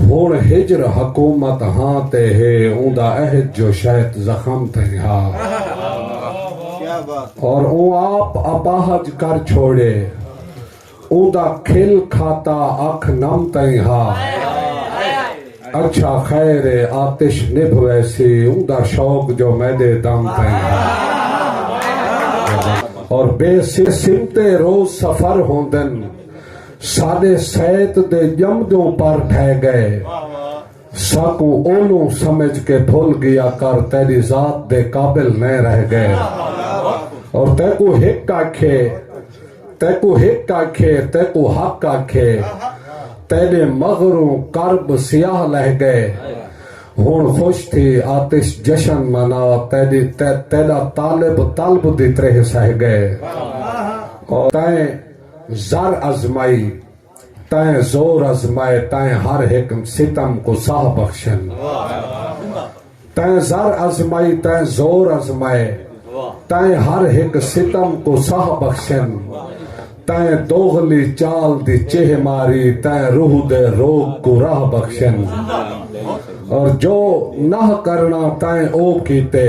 ہݨ ہجر حکومت ہاں تے ہے اوندا عہد جو شہت زخم تئیں ہا اور اوں آپ اپاہج کر چھوڑے اوندا کھل کھاتا اکھ نم تئیں ہا اچھا خیر اے آتش نبھ ویسی اوندا شوق جو میݙے دم تئیں ہا اور بے سمتے روز سفر ہوندن ساݙے سیت دے ڄمدوں پر ڈھہ ڳئے ساکوں اولوں سمجھ کے بھل ڳیا کر تیݙی ذات دے قابل نئیں رہ ڳئے اور تیکوں ہک آکھے تیکوں ہک آکھے تیکوں حق آکھے تیݙے مغروں کرب سیاہ لہہ ڳئے ہݨ خوش تھی آتش جشن منا تیݙی تیݙا طالب طلب دی تریہہ سہہ ڳئے اور تیں زر ازمائی تئیں زور ازمائے تئیں ہر ہک ستم کو ساہ بخشن تئیں زر ازمائی تئیں زور ازمائے تئیں ہر ہک ستم کو ساہ بخشن تئیں دوغلی چال دی چیہ ماری تئیں روح دے روگ کو راہ بخشن اور جو نہ کرنا تئیں او کیتے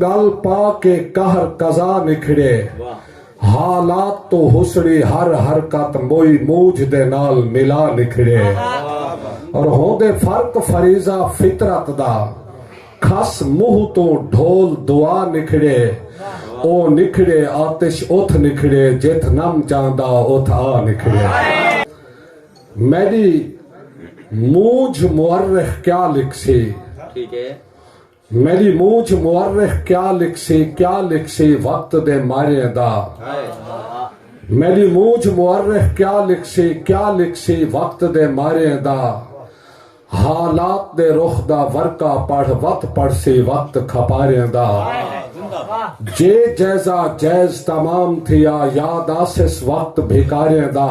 ڳل پا کے قہر قضا نکھڑے حالات توں ہسڑی ہر حرکت موئی موجھ دے نال ملا نکھڑے اور ہوندے فرق فریضہ فطرت دا کھس منہ توں ڈھول دعا نکھڑے او نکھڑے آتش اتھ نکھڑے جتھ نم چاہندا اتھ آ نکھڑے میݙی مونجھ مورخ کیا لکھسی میݙی مونجھ مورخ کیا لکھسی کیا لکھسی وقت دے ماریں دا میݙی مونجھ مورخ کیا لکھسی کیا لکھسی وقت دے ماریں دا حالات دے رخ دا ورقہ پڑھ وت پڑھسی وقت کھپاریں دا جے جیزا جیز تمام تھیا یاد آسس وقت بھکاریں دا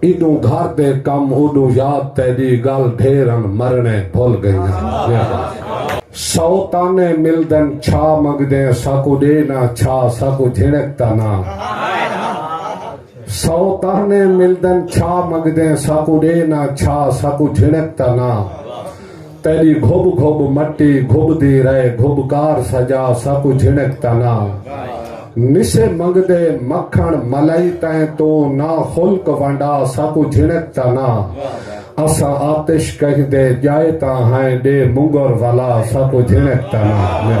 ایڈوں گھر دے کم اوڈوں یاد تیڈی گل ڈھیر ہن مرنے بھل گئی ہاں۔ سو تانے ملدن چھا منگدیں ساکوں ڈے نہ چھا ساکوں جھنک دا نہ سو تانے ملدن چھا منگدیں ساکوں ڈے نہ چھا ساکوں جھنک دا نہ تیݙی گھب گھب مٹی گھبدی رہے گھب کار سجا ساکوں جھنک تاں نہ نسے منگدے مکھݨ ملائی تئیں توں نہ خلق ونڈا ساکوں جھنک تاں نہ اساں آتش کہندے ڄائے تاں ہئیں ݙے منگر ولا ساکوں جھنک تاں نہ